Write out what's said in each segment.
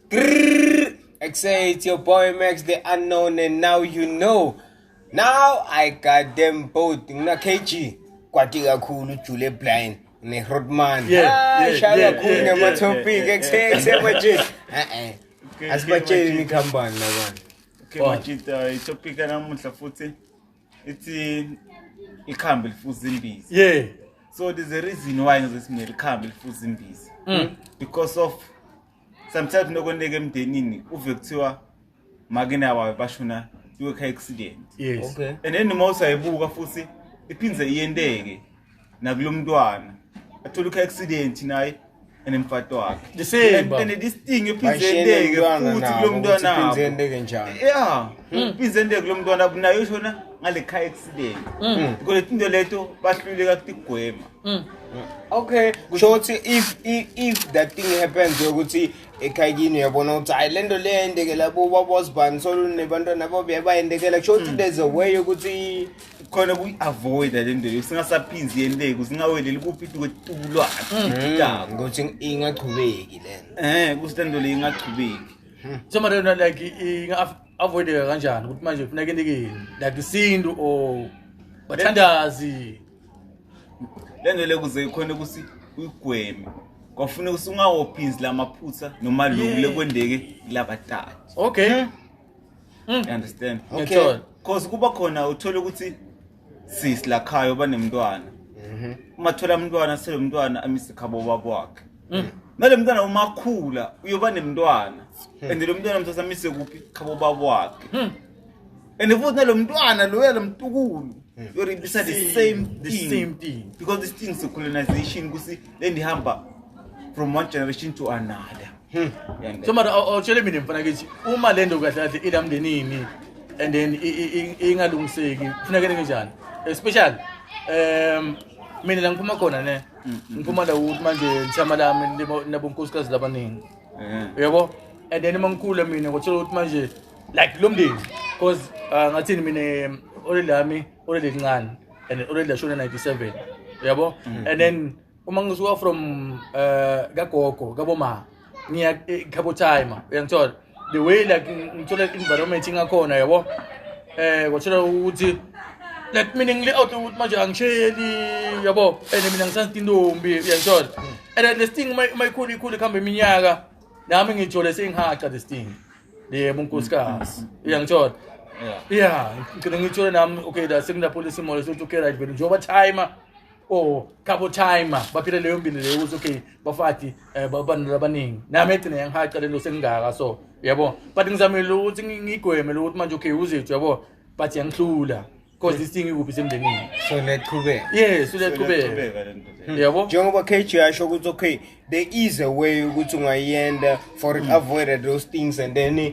Grrr, I say it's your boy Max the unknown and now you know. Now I got them both. Ngina KG kwati kakhulu Jule Blind ne Rodman. Yeah, ah, yeah, shaya yeah, kakhulu yeah, ngama yeah, topic yeah, yeah, ekuse ekuse manje. Eh eh. Asibatsheli ni company la bana. Okay, oh. manje itopic namuhla futhi ithi ikhambi lifuza imbiza yeah so there's a reason why ngizosimele ikhambi lifuza imbiza mm. because of sometimes nokoneka emndenini uve kuthiwa makenawayo bashona kwi-car accident yes. okay. and then noma usayibuka futhi iphinde iyenteke nakulo mntwana athola ukhe accident naye and mfato wakhe The same, And- baba. and this thing iphinde Bayishiyele endeke umntwana futhi nabo, kulo ukuthi mntwana iphinde wabo. endeke njani. yeah iphinde endeke kulo mntwana wabo. naye ushona ngale car accident Mm. because into leto bahluleka kutigwema Mm. okay kusho ukuthi if if, if that thing happens yokuthi ekhayini uyabona ukuthi hayi lento le yendekela bo babosibani solunebantwana babo yabayendekela kusho ukuthi there's a way yokuthi khona kuyi-avoida le nto yo singasaphinzi yeni leku singaweleli kuphi ituko tulwakhe Mm, ngokuthi ingaqhubeki lena um kuthi le nto leyo ingaqhubeki so mara yona like i- inga-avoideka kanjani ukuthi manje kufuneka enikeni like isintu or bathandazi le nto leyo kuze khona ukuthi uyigweme kwafuneka ukuthi ungawophinzi la maphutha noma lokhu Yeah. lekwendeke kulabatati okay Mm. You understand? Okay. Ngiyathola. Cause kuba khona uthola ukuthi sis lakhayo banemntwana. Mhm. Uma thola umntwana sele umntwana amise khabo babo wakhe. Mm. Nale mntwana uma khula uyoba nemntwana. Hmm. And lo mntwana mthatha amise kuphi khabo babo wakhe. Mm. And futhi nalo mntwana lo yalo mtukulu Hmm. yoribisa the same The thing. same thing. Because this thing is a colonization kusi lendihamba from one generation to another. Hmm. so mara awutshele mina mfana kithi uma le nto kahle kahle ilamndenini and then ingalungiseki kufunekele kunjani especially um mina la ngiphuma khona ne hmm, hmm, ngiphuma la ukuthi manje lithama lami nabonkosikazi labaningi eh. yabo and then uma ngikhula mina ngotshela ukuthi manje like lo mndeni because uh, ngathini mina olelami olelelincane and olelashona 97 yabo and then uma ngisuka from eh kagogo kaboma ngiya ekhabo time uyangithola the way like ngithola environment ingakhona yabo eh kwathola ukuthi like mina ngile out ukuthi manje angisheli yabo and mina ngisathi intombi uyangithola and then this thing uma uma ikhulu ikhulu ikhamba iminyaka nami ngijole sengihaca this thing yebo unkosikazi uyangithola yeah ngicela ngijole nami okay la sekunapholisa imoya sokuthi okay right vele njengoba timer or couple time baphile leyo mpilo leyo ukuthi okay bafati eh, babantu abaningi nami egcine yangihaca lento sengingaka so yabo but ngizamile ukuthi ngigweme lokuthi manje okay uzethu yabo but yangihlula because this thing ikuphi semndenini so liyaqhubeka yes liyaqhubeka hmm. yabo njengoba KG yasho ukuthi okay there is a way ukuthi ungayenda for it hmm. avoided those things and then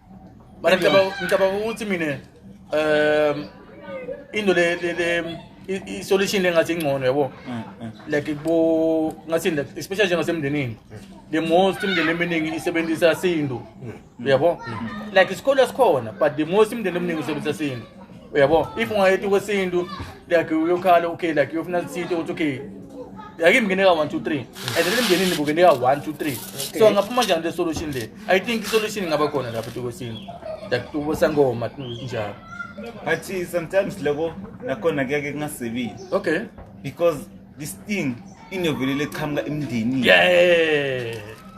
Mara ngicabanga ukuthi mina um into le le le i- i- solution engathi ingcono yabo Mm, mm. like bo ngathi like especially njengasemndenini the most imndeni eminingi isebenzisa sintu yabo like isikole sikhona but the most imndeni eminingi isebenzisa sintu uyabo if ungayeti kwesintu like uyokhala okay like uyofuna lithinte ukuthi okay yake imngene ka-one two three and then emndenini kungene ka-one two three so ngaphuma njani le solution le i think isolution ingaba khona lapho tukwesintu like tubosangoma njalo but sometimes loko nakhona kuyake kungasebenzi okay because this thing inoveli leqhamuka emndenini yeah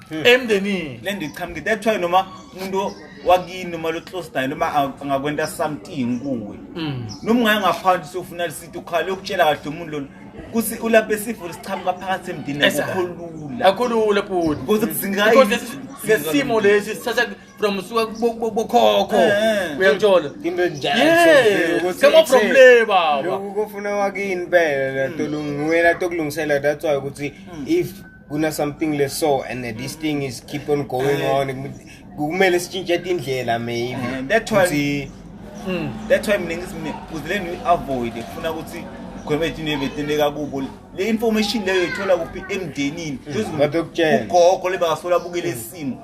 hmm. emndenini le nto iqhamuke that's why noma umuntu wakini noma lo close naye noma angakwenta something kuwe hmm. noma ungaye ngaphandle sofuna lisithi ukhala ukutshela kahle umuntu lona kuthi ulapha esifo lesiqhamuka phakathi emndenini akukho lula akukho lula bhuti because sesimo lesi sithatha from bokhokho eh. uyangithola kama from le baba lokhu kofuna wakini phela hmm. tolungiwela tokulungisela that's why ukuthi hmm. if kuna something le so and this hmm. thing is keep on going eh. on kumele sitshintshe indlela maybe eh, that's why that's why mina ngithi uzile ni avoid kufuna ukuthi khona ethini ebeteneka kubo le information leyo ithola kuphi emndenini hmm. ugogo lebakasola bukele isimo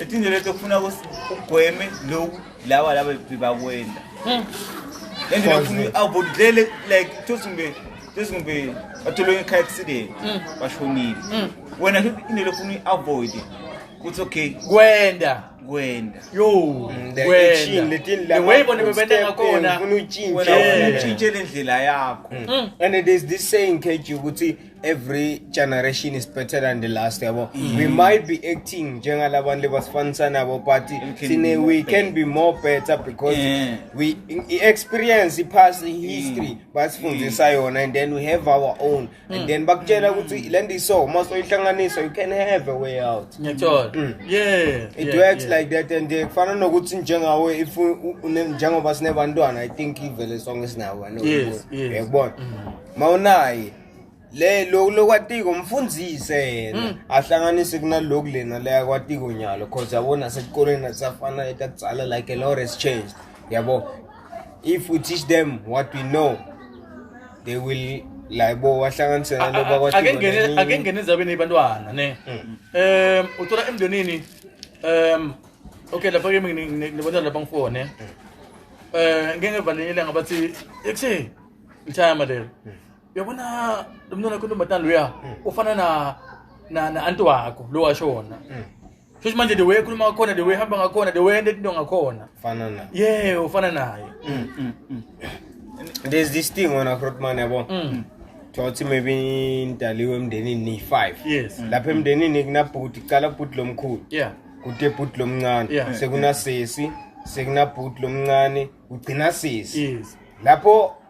etinje leto kufuna ugweme loku lawa laba bebakwenda hmm. and ngifuna avoid dlele like tosimbe tosimbe athole ngekhaya accident hmm. bashonile hmm. wena into lefuna avoid kuthi okay kwenda kwenda yo kwenda letini la way bona bebenda ngakhona ufuna utshintshe wena ufuna utshintshe lendlela yakho and there's this saying kethi ukuthi every generation is better than the last yabo mm. we might be acting njengalabantu lebasifanisa nabo but sine we can be more better because yeah. we experience past mm. history mm. basifundisa mm. yona and then we have our own mm. and then bakutshela mm. ukuthi mm. le nto iso uma soyihlanganisa you can have a way out ngiyathola mm. yeah it yeah, works yeah. like that and eh, kufana nokuthi njengawe if njengoba sinebantwana i think ivele sonke sinawo yes, yes. uyakubona mm. mawunaye le lo lokwatiko mfundise yena hmm. ahlanganise kunaloku lena leya kwatiko nyalo cause yabo nasesikoleni asafana etakutsala like a lot has changed yabo if we teach them what we know they will like bo wahlanganise nalo bakwatiko ake ngene ezabeni yebantwana ne hmm. um uthola emndenini um okay lapha ke mina ngibona lapha ngifone um ngeke valelele ngabathi ekuseni ngithaya malelo Uyabona lomntwana wakho ntombazane loya ufana na na na anti wakho lo washona. Shuthi manje the way ekhuluma ngakhona the way ehamba ngakhona the way ende into ngakhona. Fana na. Yeah, ufana naye. There's this thing wena Grootman yabo. Mm. Thothi maybe indaliwe emndenini ni 5. Yes. Lapha emndenini kunabhuti cala bhuti lomkhulu. Yeah. Kude bhuti lomncane. Yeah. Sekunasesi, sekunabhuti lomncane, ugcina sisi. Yes. Lapho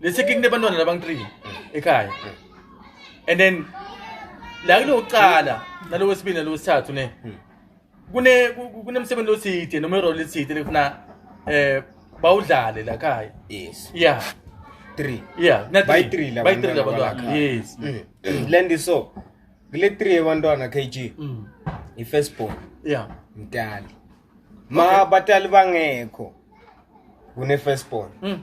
Lesikiki nebantwana labang 3 ekhaya. And then la kulokuqala nalo wesibili nalo wesithathu ne. Kune ku- kunemsebenzi oside noma irole eside lekufuna eh bawudlale la khaya. yes Yeah. three Yeah, na by three. three By three labantwana labantwana. balakha. Yes. Mm. lendi so kule three yabantwana kg Mm. i-first born Yeah. mdali ma abatali bangekho kune first born Mm.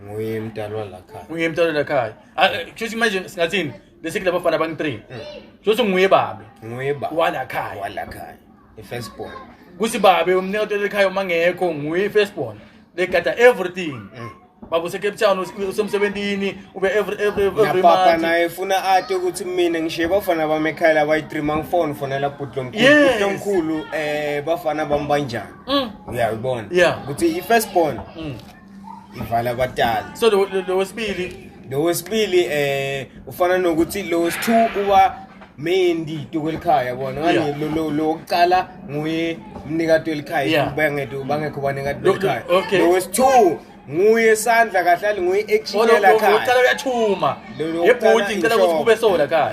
nguye mdalwa la khaya nguye mntwana lakhaya Ah, eh, kusho ukuthi manje singathini bese kulaba bafana abangi-three Mm. kusho ukuthi nguye babe nguye ba walakhaya wala khaya i first born kuthi babe umnikazi walekhaya uma ngekho nguye i-firstborn legada everything Mm. baba usecape town us- usemsebentini ube every every every ngiyapapa month naye funa ati ukuthi mina ngishiye bafana bami ekhaya labayi-three mangifoni fonela bhuti lomkhulu Yes. Bhuti lomkhulu um bafana bami banjani Mm. uyayibona Yeah. ukuthi i-first born Mm. ivala abatali so lo- lo- lo wesibili lo wesibili um ufana nokuthi lo wesi-two uba Mendi Tukwelikhaya bona Yeah. ngani lo- lo- lo wokuqala nguye mnikati welikhaya Yeah. bangekho bangekho banikati Lo- welikhaya lo- okay. lo wesithu nguye sandla kahle ali nguye ekshiyela khaya Olokuqala uyathuma. Lo- lo Yebhuti wokuqala ngicela ukuthi inhloko. kube sola khaya.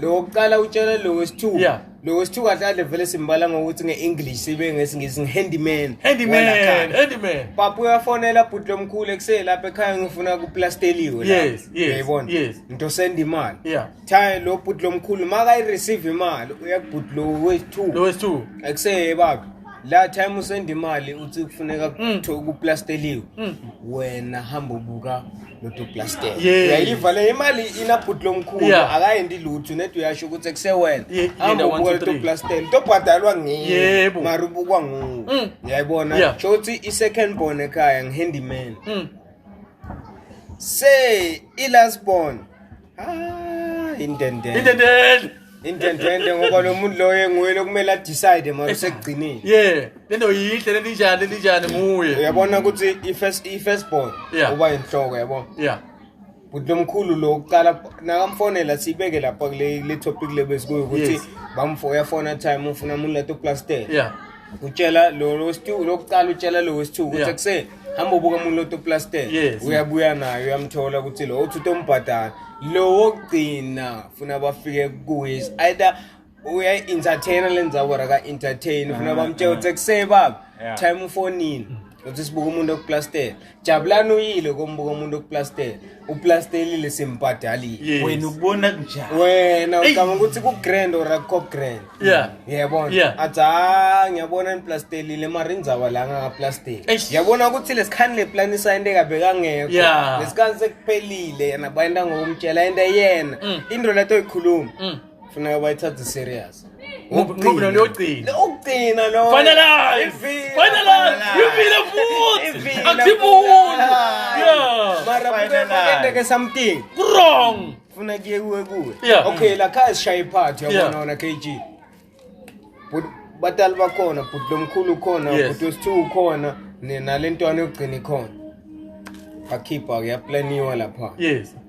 lo wokuqala utshela lo wesithu Yeah. lo wesithu kahle ale vele simbala ngokuthi nge-english sibe ngesingisi ngi-handyman Handyman, walakhaya. handyman. papa uyafonela bhuti lomkhulu ekuseni lapha ekhaya ngifuna kuplasteliwe Yes, yes, yayibona yes. ngitosenda imali Yeah. Cha lo bhuti lomkhulu maka i receive imali uyakubhuti lo wethu. Lo wethu. Akuseye baba. La time usenda imali uthi kufuneka mm. kuthiwe kuplasteliwe. Mm. Wena hamba ubuka lo to plaster. Uyayiva le imali ina bhuti lomkhulu akayendi lutho nethi uyasho ukuthi kusewena. Hamba ubuka lo to plaster. To bhadalwa ngiye. Mara ubukwa nguwe. Mm. Uyayibona? Sho ukuthi i second born ekhaya ngihandyman. Say i last born Ah, indendende. Indendende. Indendende ngoba lo muntu loyo enguye lokumele adecide manje sekugcinile. Yeah, lento yinhle lento injani lento injani nguye. Uyabona ukuthi i-first i-first born Yeah. uba inhloko yabo. Yeah. Bhuti lomkhulu lo uqala nakamfonela sibeke lapha kule le topic lebesikuyo ukuthi Yes. bamfo uyafona time ufuna umuntu lato plaster. Yeah. utshela lo lo wesithu lokuqala utshela lo wesithu ukuthi Yeah. akuseni hamba ubuka umuntu loto plaster Yes. uyabuya naye uyamthola ukuthi lo uthi utombhadala lo wokugcina funa bafike kuye is either uya entertainer lenzabo ra ka entertain funa bamtshela ukuthi akuseni baba Yeah. time ufonini uthi sibuka umuntu okuplaster Jabulani uyile kombuka umuntu okuplaster uplasterlile simbhadalile wena ubona kunjani wena ucabanga ukuthi ku grand or akho grand yeah yebo yeah. athi ha ngiyabona niplasterlile mara indzaba la ngakaplaster yabona ukuthi lesikhani le plan isayinde kabeka ngekho yeah. lesikhani sekuphelile yena bayenda ngokumtshela into yena mm. into leto ikhuluma mm. funeka bayithathe serious ngoba leyogcina ukugcina lo finalizefinalizeivile futhi akusibumuntu maraendeke something wrong funa kuye kuwe kuwe okay la khaya sishaye iphathi yabona wona k g batali bakhona bhuti lomkhulu ukhona bhuti wesithiwa ukhona nalentwana yokugcina ikhona bakhipha-ke yaplaniwa lapha yes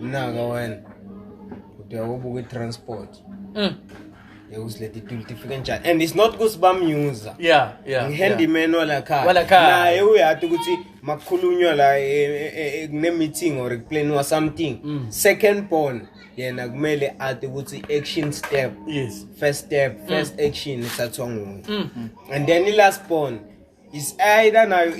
mnaka wena ude ubuka i-transport mm. yekusileta ituli tifike njani and it's not ukuthi bamyuza yeah yeah ngihandyman walakhaya naye uyati ukuthi makukhulunywa la e, e, e, kune-meeting or kuplaniwa something mm. second born yena kumele ati ukuthi action step yes first step first mm. action isathiwa nguye mm. and then i-last born is either nayo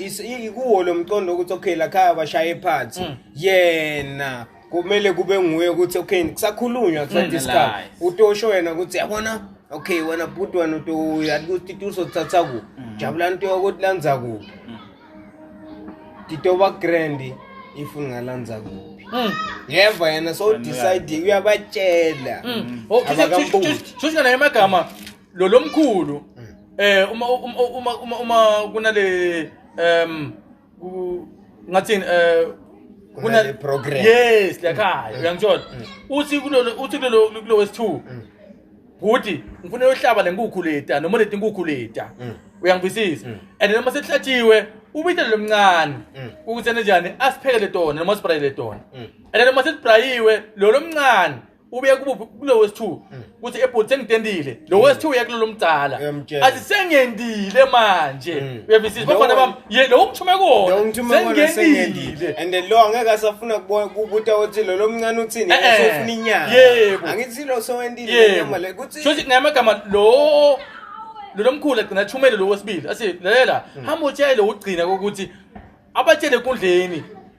ikuwo lo mqondo ukuthi okay la khaya bashaye phansi mm. yena kumele kube nguye ukuthi okay kusakhulunywa mm, kusadiscuss utosho yena ukuthi yabona okay wena bhuti wena uyakuthi tuzothatha ku mm. jabula nto yokuthi lanza kuphi titoba grand if ungalanza kuphi Mm. yeva yena so decide uyabatshela mm. mm. oh, shuthi nganaye amagama lo lomkhulu eh uma uma uma uma, uma kunale em ku- ngathini eh Kunale program. Mm. yes lakhaya uyangithola uthi kulolo uthi kulolo kulo wesi2 ukuthi ngifuna yohlaba lenkukhu leta noma leti nkukhu leta Mm. uyangibisisa and noma sekuhlatshiwe ubithe lomncane Mm. ukuthi enjani asiphekele tona noma sibrayele tona Mm. and noma sesibrayiwe lo lomncane ubuye kubuphi kulo wesi-two mm. ukuthi ebhodi sengitendile lo mm. wesi-two uya kulolo mdala athi sengendile manje mm. uyavisisa bafana bam ye lo ungithume kona sengendile and then lo angeke asafuna kubuta ukuthi lo lomncane uthini eh, eh. usofuna inyanga yebo angithi lo sowendile inyama le kuthi shothi ngamagama lo lo lomkhulu agcina athumele lo wesibili athi lalela hamba utshele ugcina ukuthi abatshele enkundleni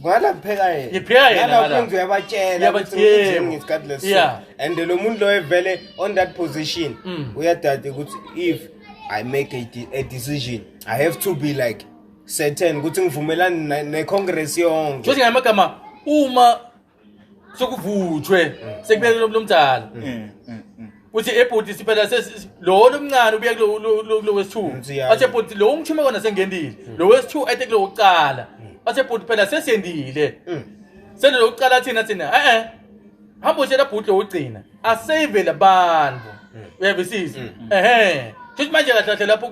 ngala ngipheka yena Ngipheka yena Ngala ngala. uphinde uyabatshela Uyabatshela. ukuthi ngithini ngesikhathi leso Yeah. and lo muntu loyo vele on that position Mm. uyadade ukuthi if i make a, de- a decision i have to be like certain ukuthi ngivumelani ne- ne-congress yonke Shothi ngamagama uma sokuvuthwe sekubeke lo mdala Mm, mm, mm. uthi ebhuti siphela sesi- lo lomncane ubuye kulo- lo- lo- kulo wesithu Nsiyazi. athe bhuti lo ungithume kona sengendile lo wesithu ethe kulo wokuqala athe bhuti phela sesendile Mm. sele lo wokuqala athina thina e-e hamba utshela bhuti lo wokugcina asave labantu uyavisisa ehe futhi manje kahle kahle lapho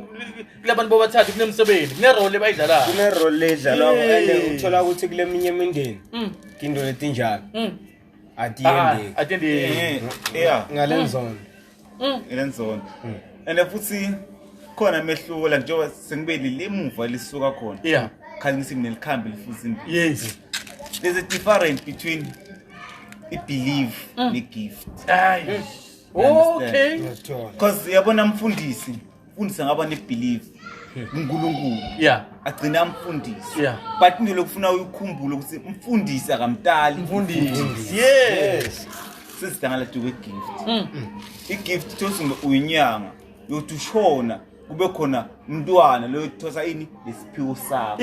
kulabantu bobathathu kunemsebenzi kunerole bayidlalayo Kune role edlalwako Hey. and uthola ukuthi kuleminye imindeni Mm. into letinjalo. Mm. at the Ah, end at the end Eh, yeah ngalenzona elenzona and futhi khona mehluko la njengoba sengibeli lemuva lisuka khona yeah khale ngithi mina likhambe lifuza imbi yes there's a difference between i-believe ne-gift hayi okay ngiyakuthola because yabona mfundisi Mfundisi ngaba ne believe uNkulunkulu yeah agcina amfundisi yeah but into lokufuna uyikhumbule ukuthi umfundisi akamtali mfundisi yes sizidangala to a gift mm. i gift thosi uyinyanga yothi ushona kube khona umntwana loyo thosa ini lesiphiwo sakho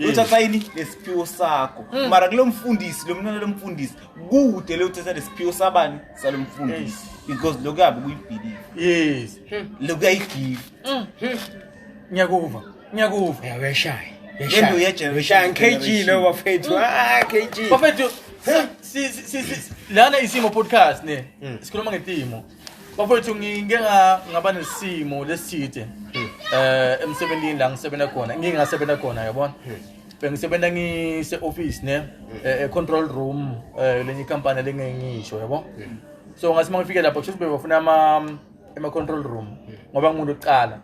uthatha ini lesiphiwo sakho mm. mara kulo mfundisi lo mntwana lomfundisi kude le uthatha lesiphiwo sabani salo mfundisi because lo kuyabe kuyibhilive yes hmm. lo kuyayigive hmm. hmm. ngiyakuva ngiyakuva yaweshaya lento yejenereshaya ngikg lo bafethu ah kg bafethu lana isimo podcast ne sikhuluma ngetimo bafowethu ngike nga- ngaba nesimo leside eh emsebenzini la ngisebenza khona ngike ngasebenza khona yabona bengisebenza ngise office ne eh, eh, control room eh, lenye company lengengisho yabo so ngathi mangifike lapho kusho ukuthi bebafuna ama ama control room ngoba ngimuntu oqala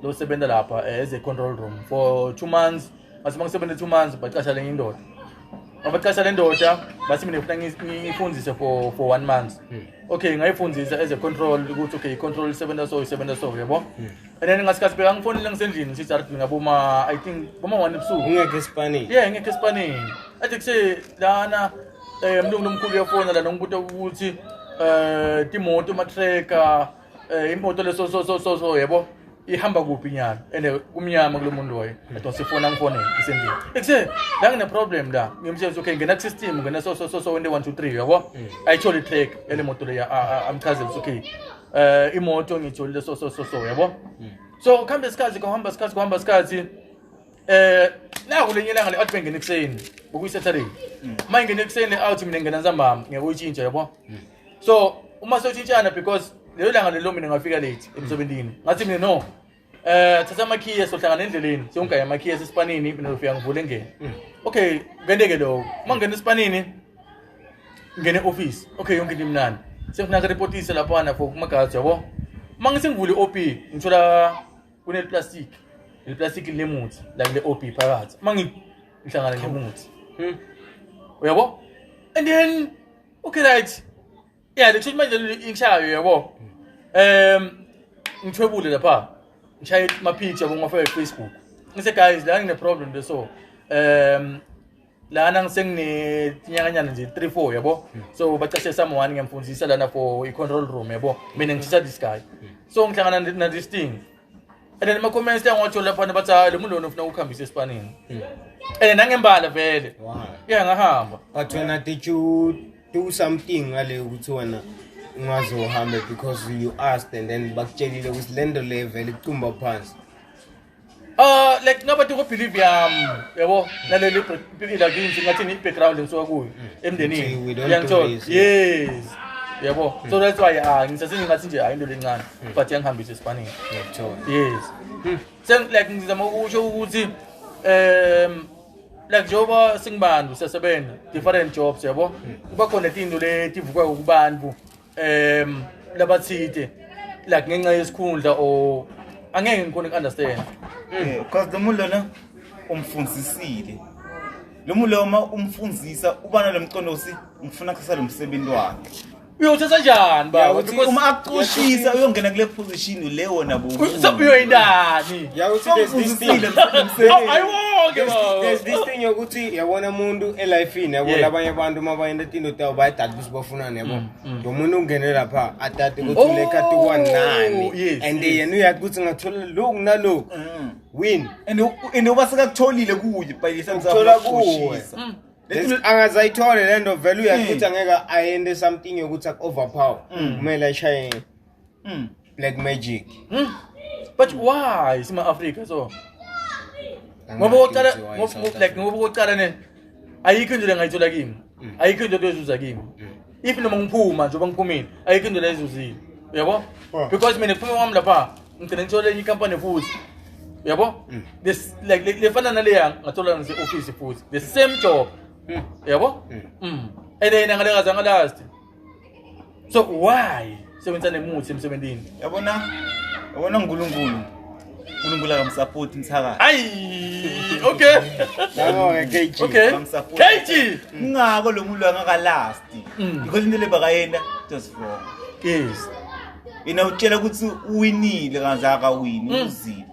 losebenza lapha eh, as a control room for two months mase mangisebenze two months bacasha lenye indoda mabacasha le ndoda bathi mina ngifuna ngi- ngiyifundise for for one month okay ngayifundisa as a control ukuthi okay i-control isebenza so isebenza so yabo and then ngasikhathi bheka ngifonile ngisendlini ngithi art ngaboma i think boma one ebusuku ungekho esipanini yeah ngekho esipanini athi kuse lana um mlungu lomkhulu uyafona lana ngibuta ukuthi um timoto matreka Eh imoto leso so so so so yebo ihamba kuphi nyalo ene kumnyama kulomuntu loyo ethi sifuna ngifone isendini ekuse la ngine problem la ngimshenza okay ngena system ngena so so so so 1 2 3 yabo i told it take ele motor ya amchazela okay eh imoto ngitholile so so so so yabo hmm. so ukhambe isikhathi kuhamba isikhathi kuhamba isikhathi eh naku lenye langa le atbe ngene kuseni bokuyi saturday hmm. mayingene kuseni out mina ngena nzambama ngeke uyitshintshe yabo hmm. so uma soshintshana because lelo langa lelo mina ngafika late emsebenzini ngathi mina no eh thatha amakhiye sohlangana endleleni siyongaya amakhiye esisipanini mina ngifika ngivule ngene hmm. okay kwenteke lokho uma ngena esipanini ngene office okay yonke into imnandi sengifuna ngireportise laphana for kumagazi yabo uma ngisengivule i-op ngithola kuneplastic leplastic linemuthi la kule-op phakathi uma ngihlangana nemuthi hmm. uyabo and then okay right ya le kushuthi manje leli ikushayo yebo um ngithwebule lapha ngishaye ama-picture kumafake facebook ngise guys la ngine-problem nje so um lana ngisenginetinyakanyana nje three four yabo so bacashe someone ngiyamfundisa lana for i-control room yabo mina ngishisa this guy so ngihlangana na-this thing and then ama-comments liyangotsholo laphana bathi hayi lo muntu lona ufuna ukuhambisa esipanini and then nangembala vele Why? ya ngahamba But when I did you do something ngale ukuthi wena ungaze uhambe because you asked and then bakutshelile ukuthi le nto le vele icumba phansi. Uh, like ngabathi kubelieve yami yabo naleli ila kinzi ngathi ni background engisuka kuyo See, emndenini we don't do uyangithola this, yes yabo so that's why ah ngisase ngingathi nje hayi into lencane but yangihambisa esipanini yes hmm. sen like ngizama ukusho ukuthi um like njengoba singibantu siyasebenza different jobs yabo hmm. kuba khona tinto letivuka kubantu um labathide like ngenxa yesikhundla or angeke ngikhona uku-understand hmm. because lo muntu lona umfundisile lo muntu loma umfundisa uba nalo mqondo ukuthi ngifuna kusasa lo msebenzi wakhe uyothatha njani baba Yawuthi Because- uma akucushisa uyongena kule position le wona Uyothatha uyoyindani Yawuthi there's this thing. Awu, ayiwonke There's, baba there's this thing yokuthi yabona umuntu elifini yabo Yeah. labanye abantu uma bayenda tinto tawo bayadada ukuthi bafunani yabo lo muntu ungene lapha adade ukuthi Oh, unekatuwa nani yes, and yes. yena uyathi ukuthi ngathola lokhu nalokhu win and uba sekakutholile kuye by the time uthola kuwe usakushisa. angazayithole le nto vele uyaqutha hmm. ngeke ayende something yokuthi aku-overpower hmm. kumele ashaye hmm. black magic but why sima-afrika so ngoba kokuqala ngoba kokuqala ne ayikho into le ngayithola kimi ayikho into yokuzuza kimi if noma ngiphuma njengoba ngiphumile ayikho indlela ezuzile uyabo Ah. because mina kuphuma kwami lapha ngigcine ngithola enye ikampani futhi uyabo Mm. This- like le- lefana naleya ngathola nase-ofisi futhi the same job Mm. uyabo Mm. Mm. and yena ngalengazangalast so why sebenzisa nemuthi emsebenzini yabona yabona uNkulunkulu uNkulunkulu akamsupport mthakathi ayi okay yabona KG okay KG ngako lo muntu angakalasti mm. ikho into lebakayenda just wrong yes yena utshela ukuthi uwinile kanzaka wini mm. uzile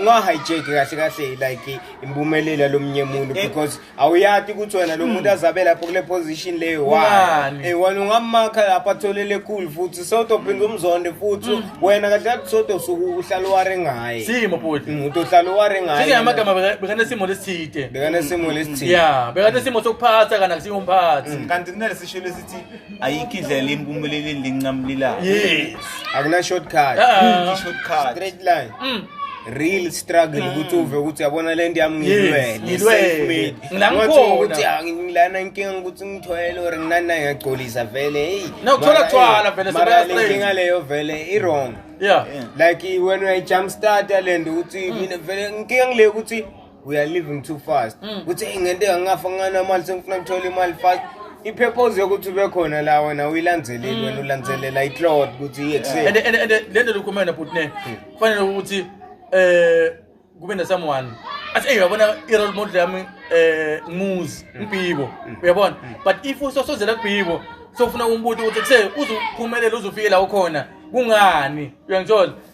ungahijack kahle kahle like impumelelo lomnye muntu eh. because awuyati ukuthi wena lo muntu hmm. azabe lapho kule position leyo wani eh wena ungamakha lapha atholele cool futhi soto phinda umzonde futhi hmm. wena kahle kahle soto usuku uhlala ware ngaye simo futhi hmm, umuntu uhlala ware ngaye sike amagama bekane simo lesithide bekane simo lesithide yeah bekane simo sokuphatha kana kusiyo umphathi kanti kunele sisho lesithi ayikho indlela impumeleleni linqamlilayo yes akuna shortcut Ah. shortcut straight line Mm. real struggle ukuthi uve ukuthi yabona lento yami ngilwele ngilwele. self-made. Ngilamkhona. Ungathi ukuthi ah, ngilana inkinga ukuthi ngithwele or nginana ngiyagcolisa vele hey No, kuthola mara, thwala hey, vele, mara sebeya le straight. nkinga leyo vele i-wrong yeah like when uyayijump starta lento ukuthi mina vele inkinga ngile ukuthi we are living too fast mm. ukuthi hey ngente angafa ngana mali sengifuna ngithola imali fast ipurpose yokuthi ube khona la wena uyilandeleli mm. wena ulandelela itlot ukuthi iyekuseni and and and lento lokhumana butne mm. kufanele ukuthi eh kube ne someone athi hey uyabona i role model yami eh ngumuzi uBhibo uyabona but if usosozela kuBhibo sofuna umbuti ukuthi kuse uzuphumelela uzufike la ukhona kungani uyangithola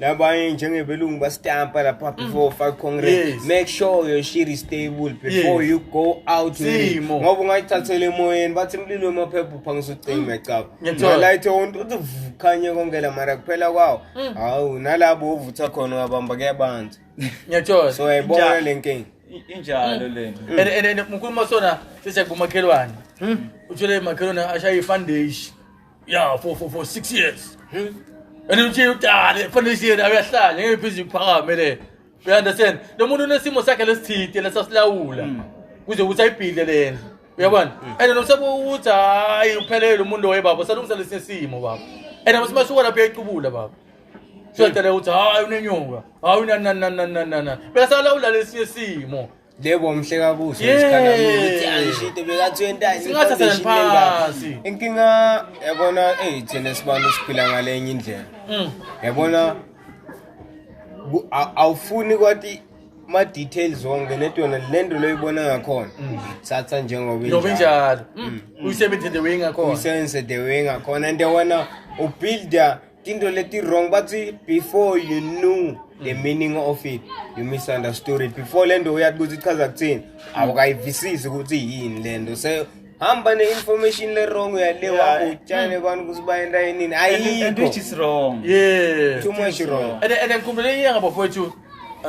labanye njengebelungu basitampa lapha mm. before ufake congress yes. make sure your shit is stable before yes. you go out ngoba ungayithathela emoyeni bathi mlilo wemaphepha uphangisa ucima ecaba mm. ngalayithe wonto uthi vukhanye konke la mara kuphela kwawo mm. hawu nalabo ovutha khona uyabamba kuyabanza ngiyathola so yayibona le nkinga injalo mm. lento mm. and and mkhuluma sona sise kumakhelwane mm. uthole makhelwane ashaya ifandeshi ya for for for 6 years and nje udale fanele siye nawe yahlala ngeke pheze iphakame le you understand lo muntu unesimo sakhe lesithide lesasilawula kuze ukuthi ayibhile lena uyabona and nomsebe ukuthi hayi uphelele lo muntu waye baba salungisa lesi simo baba and abasima suka lapho yayicubula baba siyadala ukuthi hayi unenyoka hayi unananananana bese alawula lesi simo Yebo mhle kakuhle Yeah. isikhala ukuthi angishite bekathwentani Singathathela phasi. inkinga yabona eyi thina sibantu siphila ngale enye indlela Mm. yabona ku- a- awufuni kwathi ma-details wonke nento yona le nto loyibona ngakhona thatha njengoba Mm. Ngoba injalo. Mm. Uyisebenzise the way ngakhona. uyisebenzise the way ngakhona and yabona ubuilda tinto leti wrong bathi before you knew the mm. meaning of it you misunderstood it before lento uyathi ukuthi ichaza kuthini awukayivisisi ukuthi yini lento se hamba ne-information le-wrong uyale wakho utshane abantu ukuthi bayenta yinini and which is wrong yeah too much wrong and and ngikhumbule iye ngabo fowethu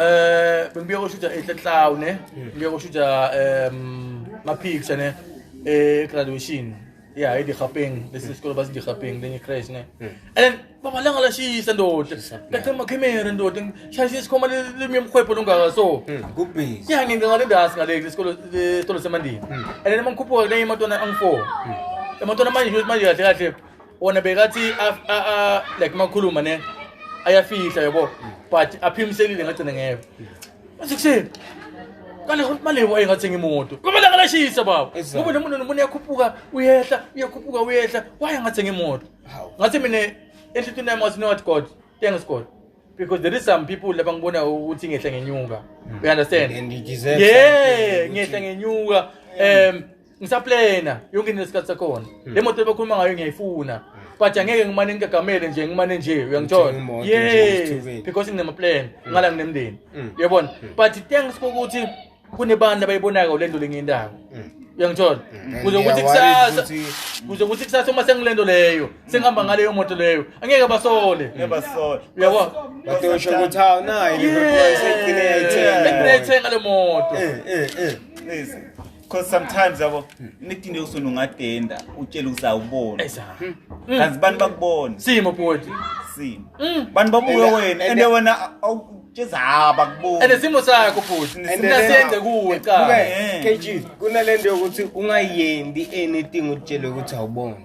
eh bengibuya koshutha ehle clown ne ngibuya koshutha um mapics ne eh graduation Yeah, ay dikgapeng. This is called bas dikgapeng. Then you crash, ne? Hmm. And then, baba lang ala she's and dot. That time makimera and dot. And she's just come a little bit of kwepo nunga so. Hmm, good piece. Yeah, ngin ngale das ngale this called this called semandi. Hmm. And then mangkupo na yung matona ang fo. Yung matona man yung man yung yung Ona begati a a a like makuluma ne. Ayafihla yabo. But aphimselile ngathi ngeke. Ekuseni. Kale ukuthi malebo engathenga imoto. Kumele ngalashisa baba. Exactly. Ngoba nomuntu nomuntu uyakhuphuka uyehla, uyakhuphuka uyehla. Why engathenga imoto? Hawu. Ngathi mina enhlitini yami ngathi not God. Thanks God. Because there is some people laba ngibona ukuthi ngehle ngenyuka. You understand? And you deserve Yeah, something. ngehle ngenyuka. Um ngisaplena yonke into nesikhathi sakhona Hmm. le moto ebakhuluma ngayo ngiyayifuna but angeke ngimane ngigagamele nje ngimane nje Ngithenga uyangithola imoto nje, yes ngithukile. because nginamaplane ngala nginemndeni Mm. uyabona but thanks kokuthi kunebantu abayibonako le nto le ngiyindako Mm. uyangithola And kuze ukuthi they are worried kusasa ukuthi- kuze ukuthi kusasa uma sengile nto leyo sengihamba ngaleyo moto leyo angeke basole Never saw. uyabona batosho ukuthi hawu nayi Yes. liverpool seyigcine yayithenga Ekugcine yayithenga le moto Eh, eh, eh. Please. because sometimes yabo nidinde usona ungadenda utshela ukuthi awuboni hmm. hmm. kanti bani bakubona simo bhuti simo hmm. bani babuke wena ende wena awutshezaba kubona ende simo sakho bhuti sinasenze kuwe cha eh. KG kunalento yokuthi ungayendi anything utshele ukuthi awuboni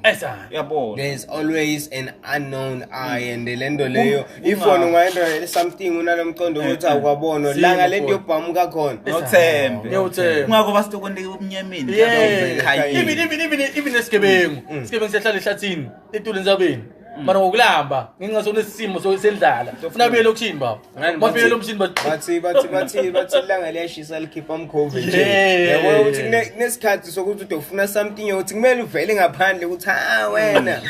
yabona there's always an unknown eye and lento leyo ifoni ungayendoyele something unalomqondo eh, ukuthi eh. awukwabona la ngale nto yobhamuka khona nothembe ungako basitokonike ubumnyameni even even even even esigebengu mm. isigebengu siyahlala ehlathini etule nzabeni mm. mara ngokulamba ngenxa sonesimo sendlala funa buyele okushini baba bafike lo mshini bathi bathi bathi bathi ilanga liyashisa likhipha umkhovu nje yabo ukuthi kunesikhathi uyazizwa ukuthi ude ufuna something yokuthi kumele uvele ngaphandle ukuthi ha wena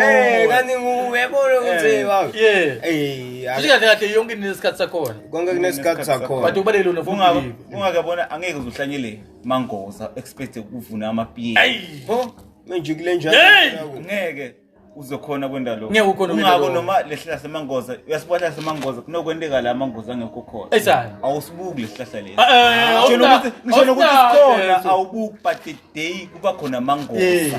Eh kanti nguwe yabona ukuthi Eh, wow yeah. Eh Futhi kahle kahle yonke into inesikhathi sakhona konke kunesikhathi but sakhona ubalekile Kungaba- unofuthi kungaka bona angeke uzohlanyele mangoza expect ukuvuna amapiye Ayi. Pho manje kule njalo Hey! ngeke uzokhona kwenda lokho Ngeke ukhone ukwenda ungako lokho. noma lehlahla semangoza uyasibona semangoza kunokwenteka la amangoza angekho khona Eish, hayi. awusibuki lesihlahla lesi Eh, eh, Ngisho awusta- nokuthi- ngisho nokuthi awusta- sikhona eh, awubuki but the day kuba khona amangoza Yes.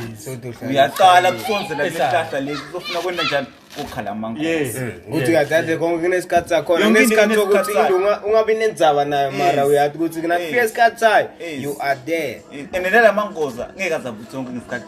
uyaqala kusonzela Eish, hayi. lesihlahla lesi uzofuna kwenda njani kokhala amangoza Yes. ukuthi uyadade konke kunesikhathi sakhona Yonke into kunesikhathi sokuthi kunesikhathi sayo. unga- ungabi nenzaba nayo mara Yes. uyati ukuthi kunafika Yes. isikhathi sayo Yes. you are there and nala mangoza ngeke azabuthi sonke ngesikhathi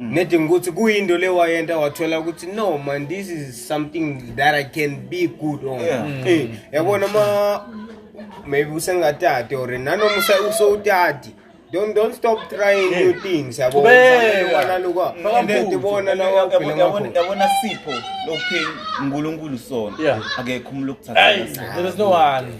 Mm. nedinga ukuthi kuyinto le wayenta wathola ukuthi no man this is something that i can be good on yeah. mm. hey, mm. yabona ma maybe usengatati or nanoma usewutati don't don't stop trying yeah. new things yabonaloka ndibona lawayabona sipho lokupheni unkulunkulu sona akekho umntu okuthatha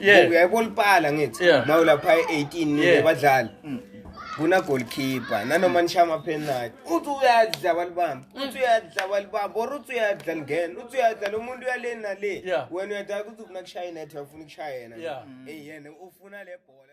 Yeah. uyayibona ulipala ngithi Yeah. nawe lapha e-18 Yeah. nibadlali kuna goalkeeper nanoma nisha amaphenati uthi uyadla abalibamba uthi uyadla abalibamba or uthi uyadla lingena uthi uyadla lo muntu uyale nale Yeah. wena uyadala ukuthi ufuna kushaya inethe wafuna ukushaya yena Yeah. eyi yena ufuna le bhola